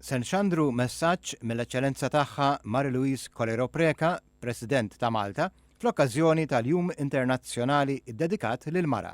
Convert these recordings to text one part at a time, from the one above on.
Se nxandru messaġġ mill-Eċċellenza Tagħha Marie Louise Colero Preca, President ta' Malta, fl-okkażjoni tal-Jum Internazzjonali ddedikat lill-Mara.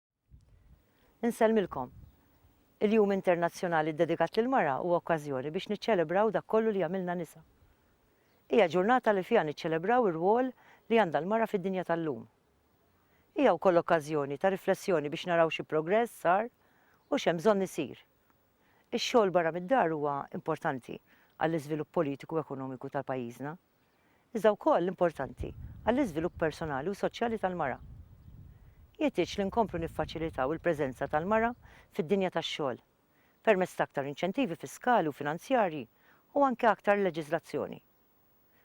Insellmilkom. Il-Jum Internazzjonali ddedikat lill-Mara huwa okkażjoni biex niċċelebraw dak kollu li jagħmilna nisa. Hija ġurnata li fiha niċċelebraw ir-rwol li għandha l-mara fid-dinja tal-lum. Hija wkoll okkażjoni ta' riflessjoni biex naraw xi progress sar u x'hemm bżonn isir. Ix-xogħol barra mid-dar huwa importanti għall-iżvilupp politiku u ekonomiku tal-pajjiżna. iżda wkoll importanti għall-iżvilupp personali u soċjali tal-mara. Jeħtieġ li nkomplu niffaċilitaw il-preżenza tal-mara fid-dinja tax-xogħol permezz ta' aktar inċentivi fiskali u finanzjarji u anke aktar leġiżlazzjoni.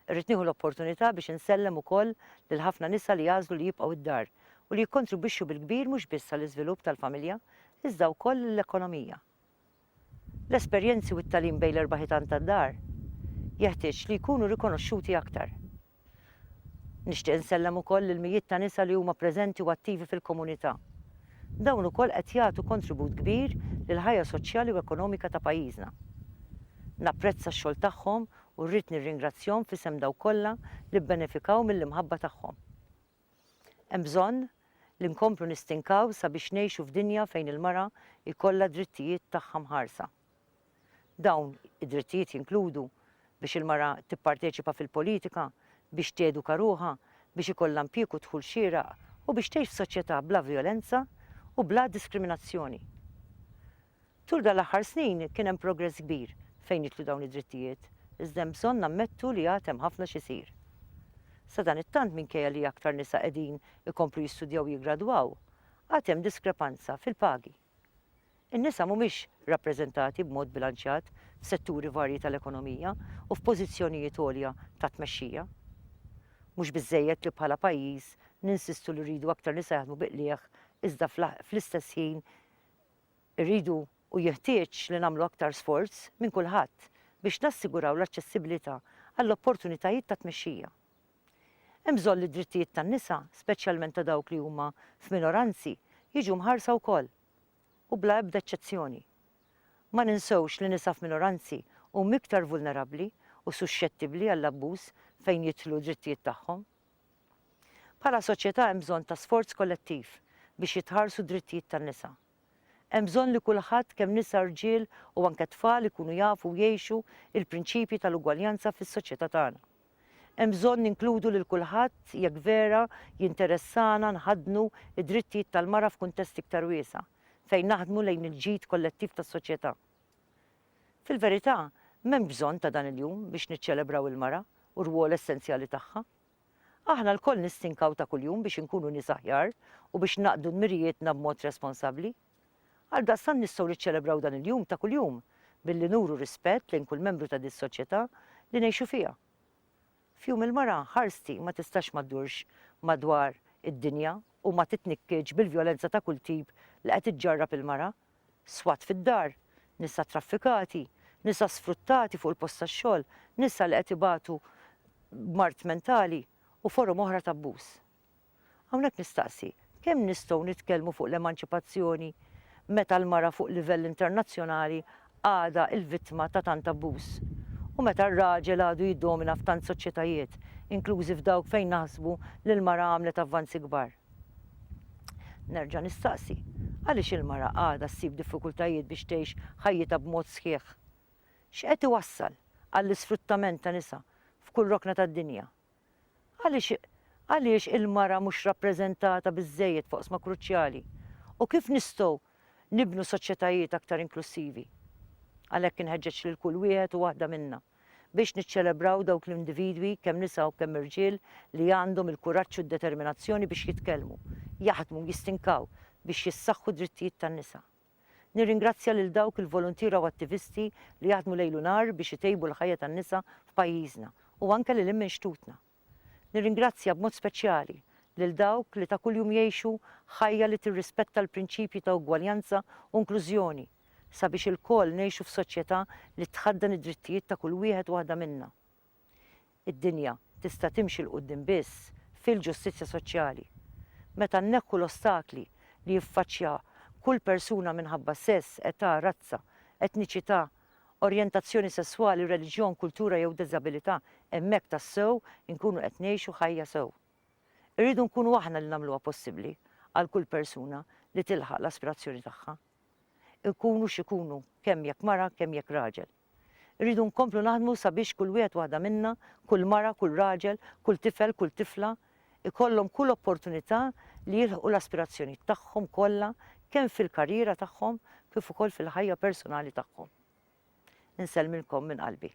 Irrid nieħu l-opportunità biex insellem ukoll lill-ħafna nisa li għażlu li jibqgħu d-dar u li jikkontribwixxu bil-kbir mhux biss għall-iżvilupp tal-familja iżda wkoll lill-ekonomija. L-esperjenzi u t-tagħlim bejn l-erba' ħitan tad-dar jeħtieġ li jkunu rikonoxxuti aktar. Nixtieq insellem ukoll lill-mijiet ta' nisa li huma preżenti u attivi fil-komunità. Dawn ukoll qed jagħtu kontribut kbir lill-ħajja soċjali u ekonomika ta' pajjiżna. Napprezza x-xogħol tagħhom u rrid nirringrazzjhom f'isem dawk kollha li bbenefikaw mill-imħabba tagħhom. Hemm bżonn li nkomplu nistinkaw sabiex ngħixu f'dinja fejn il-mara jkollha d-drittijiet tagħha mħarsa. Dawn id-drittijiet jinkludu biex il-mara tipparteċipa fil-politika, biex teduka ruħha, biex ikollha impjieg u dħul xieraq u biex tgħix f'soċjetà bla vjolenza u bla diskriminazzjoni. Tul dan l-aħħar snin kien hemm progress kbir fejn nitlu dawn id-drittijiet, iżda hemm bżonn nammettu li għad hemm ħafna x'isir. Sadanittant minkejja li aktar nisa qegħdin ikomplu jistudjaw u jiggradwaw, għad hemm diskrepanza fil-pagi. In-nisa mhumiex rappreżentati b'mod bilanċjat f'setturi varji tal-ekonomija u f'pożizzjonijiet għolja ta' tmexxija. Mhux biżżejjed li bħala pajjiż ninsistu li rridu aktar nisa jaħdmu bi qligħ iżda fl-istess ħin Irridu u jeħtieġ li nagħmlu aktar sforz minn kulħadd biex nassiguraw l-aċċessibilità għall-opportunitajiet ta' tmexxija. Hemm bżonn li d-drittijiet tan-nisa, speċjalment ta' dawk li huma f'minoranzi, jiġu mħarsa wkoll, u bla ebda eċċezzjoni. Ma ninsewx li nisa f'minoranzi huma iktar vulnerabbli u suxxettibbli għall-abbuż fejn jidħlu d-drittijiet tagħhom. Bħala soċjetà hemm bżonn ta' sforz kollettiv biex jitħarsu d-drittijiet tan-nisa. Hemm bżonn li kulħadd kemm nisa, rġiel u anke tfal ikunu jafu u jgħixu l-prinċipji tal-ugwaljanza fis-soċjetà tagħna. Hemm bżonn ninkludu lil kulħadd jekk vera jinteressana nħaddnu d-drittijiet tal-mara f'kuntest iktar wiesa' fejn naħdmu lejn il-ġid kollettiv tas-soċjetà. Fil-verità, m'hemmx bżonn ta' dan il-jum biex niċċelebraw il-mara u r-rwol essenzjali tagħha. Aħna lkoll nistinkaw ta' kuljum biex inkunu nies aħjar u biex naqdu dmirijietna b'mod responsabbli. Għaldaqstant nistgħu niċċelebraw dan il-jum ta' kuljum billi nuru rispett lejn kull membru ta' dis-soċjetà li ngħixu fiha. F'Jum il-Mara, ħarsti ma tistax ma ddurx madwar id-dinja u ma titnikkietx bil-vjolenza ta' kull tip li qed iġġarrab il-mara. swat fid-dar, nisa traffikati, nisa sfruttati fuq il-post tax-xogħol, nisa li qed ibatu b'mard mentali u forom oħra ta' abbuż. Hawnhekk nistaqsi, kemm nistgħu nitkellmu fuq l-emanċipazzjoni meta l-mara fuq livell internazzjonali għadha l-vittma ta' tant abbuż u meta r-raġel għadu jiddomina f'tant soċjetajiet, inklużi f'dawk fejn naħsbu li l-mara għamlet avvanzi kbar? Nerġa' nistaqsi, għaliex il-mara għadha ssib diffikultajiet biex tgħix ħajjitha b'mod sħiħ? X'qed iwassal għall-isfruttament ta' nisa f'kull rokna tad-dinja? Għaliex għaliex il-mara mhux rappreżentata biżżejjed f'oqsma kruċjali? U kif nistgħu nibnu soċjetajiet aktar inklussivi? Għalhekk inħeġġeġ lil kull wieħed u waħda minna. biex niċċelebraw dawk l-individwi, kemm nisa u kemm irġiel, li għandhom il-kuraġġ u d-determinazzjoni biex jitkellmu, jaħdmu u jistinkaw biex jissaħħu d-drittijiet tan-nisa. Nirringrazzja lil dawk il-voluntiera u attivisti li jaħdmu lejl u nhar biex itejbu l-ħajja tan-nisa f'pajjiżna u anke lil hinn minn xtutna. Nirringrazzja b'mod speċjali lil dawk li ta' kuljum jgħixu ħajja li tirrispetta l-prinċipji ta' ugwaljanza u inklużjoni sabiex ilkoll ngħixu f'soċjetà li tħaddan id-drittijiet ta' kull wieħed u waħda minna. Id-dinja tista' timxi 'l quddiem biss fil-ġustizzja soċjali. Meta nneħħu l-ostakli li jiffaċċja kull persuna minħabba sess, età, razza, etniċità, orjentazzjoni sesswali, reliġjon, kultura jew diżabilità, hemmhekk tassew inkunu qed ngħixu ħajja sew. Irridu nkunu aħna li nagħmluha possibbli għal kull persuna li tilħaq l-aspirazzjoni tagħha. Ikunu x'ikunu, kemm jekk mara, kemm jekk raġel. Irridu nkomplu naħdmu sabiex kull wieħed waħda minna, kull mara, kull raġel, kull tifel, kull tifla, ikollhom kull opportunità li jilħqu l-aspirazzjonijiet tagħhom kollha kemm fil-karriera tagħhom kif ukoll fil-ħajja personali tagħhom. Insellmilkom minn qalbi.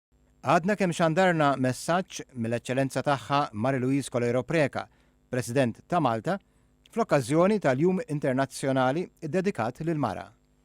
Għadna kemm xandarna messaġġ mill-Eċċellenza Tagħha Marie Louise Coleiro Preca, President ta' Malta, fl-okkażjoni tal-Jum Internazzjonali ddedikat lill-Mara.